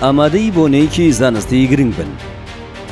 ئامادەی بۆنەیەکی زانستی گرنگ بن.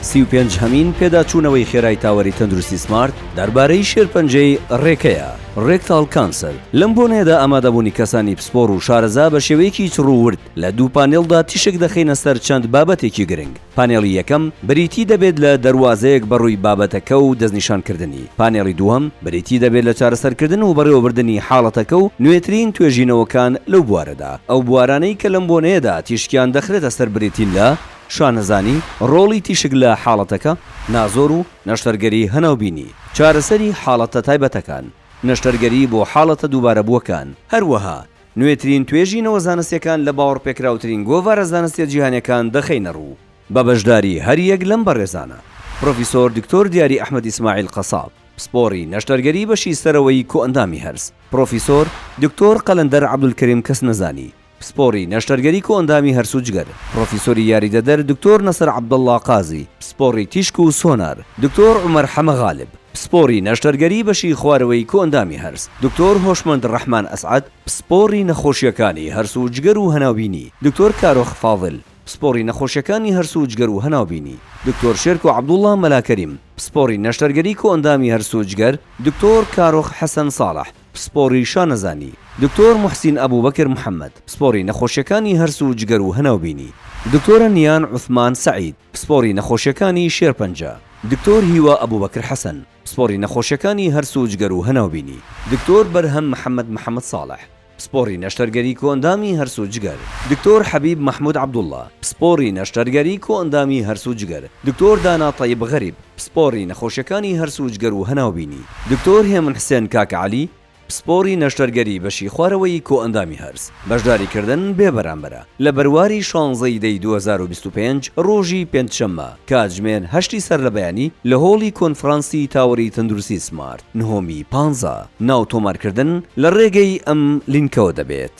سی و پێنج هەمین پێداچوونەوەی خێرای تاوەری تەندروستی سمارت دەربارەی شێرپەنجەی ڕێکەیە، Rectal Cancer، لەم بۆنەیەدا ئامادەبوونی کەسانی پسپۆڕ و شارەزا بە شێوەیەکی چڕ و ورد لە دوو پانێڵدا تیشک دەخەینە سەر چەند بابەتێکی گرنگ. پانێڵی یەکەم بریتی دەبێت لە دەروازەیەک بەڕووی بابەتەکە و دەستنیشانکردنی، پانێڵی دووهەم بریتی دەبێت لە چارەسەرکردن و بەڕێوەبردنی حاڵەتەکە و نوێترین توێژینەوەکان لەو بوارەدا، ئەو بوارانەی کە لەم بۆنەیەدا تیشکیان دەخرێتە سەر بریتین لە، شانەزانی، ڕۆڵی تیشک لە حاڵەتەکە، نازۆر و نەشتەرگەری هەناوبینی، چارەسەری حاڵەتە تایبەتەکان، نەشتەرگەری بۆ حاڵەتە دووبارەبووەکان، هەروەها نوێترین توێژینەوە زانستیەکان لە باوەڕپێکراوترین گۆڤارە زانستیە جیهانیەکان دەخەینە ڕوو، بە بەشداری هەریەک لەم بەڕێزانە، پرۆفیسۆر دکتۆر دیاری ئەحمەد ئیسماعیل قەساب، پسپۆڕی نەشتەرگەری بەشی سەرەوەی کۆئەندامی هەرس، پرۆفیسۆر دکتۆر قەلەندەر عەبدولکەریم کەسنەزانی، پسپۆڕی نەشتەرگەری کۆئەندامی هەرس و جگەر، پرۆفیسۆری یاریدەدەر دکتۆر نەسر عەبدەڵڵا قازی، پسپۆڕی تیشک و سۆنار، دکتۆر عومەر حەمە غالب. پسپۆڕی نەشتەرگەری بەشی خوارەوەی کۆئەندامی هەرس، دکتۆر هۆشمەند ڕەحمان ئەسعەد، پسپۆڕی نەخۆشییەکانی هەرس و جگەر و هەناوبینی، دکتۆر کارۆخ فاضل، پسپۆڕی نەخۆشییەکانی هەرس و جگەر و هەناوبینی، دکتۆر شێرکۆ عەبدوڵڵا مەلا کەریم، پسپۆڕی نەشتەرگەری کۆئەندامی هەرس و جگەر، دکتۆر کارۆخ حەسەن ساڵح، پسپۆڕی شانەزانی، دکتۆر موحسین ئەبوبەکر محەمەد، پسپۆڕی نەخۆشییەکانی هەرس و جگەر و هەناوبینی، دکتۆرە نیان عوسمان سەعید، پسپۆڕی نەخۆشییەکانی شێرپەنجە. دکتۆر هیوا ئەبوبەکر حەسەن، پسپۆڕی نەخۆشیەکانی هەرس و جگەر و هەناوبینی. دکتۆر بەرهەم محەمەد محەمەد ساڵح، پسپۆڕی نەشتەرگەری کۆئەندامی هەرس و جگەر. دکتۆر حەبیب مەحمود عەبدوڵا، پسپۆڕی نەشتەرگەری کۆئەندامی هەرس و جگەر. دکتۆر دانا تەیب غەریب، پسپۆڕی نەخۆشیەکانی هەرس و جگەر و هەناوبینی. دکتۆر هێمن حسێن کاکە عەلی، پسپۆڕی نەشتەرگەری بەشی خوارەوەی کۆئەندامی هەرس، بەشداریکردن بێ بەرامبەرە. لە بەرواری شانزە ی دەی دوو هەزار و بیست و پێنج ڕۆژی پێنجشەممە کاتژمێر هەشت ی سەر لە بەیانی لە هۆڵی کۆنفرانسی تاوەری تەندروستی سمارت نهۆمی پانزە ناو تۆمارکردن لە ڕێگەی ئەم لینکەوە دەبێت.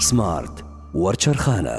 سمارت وەرچەرخانە.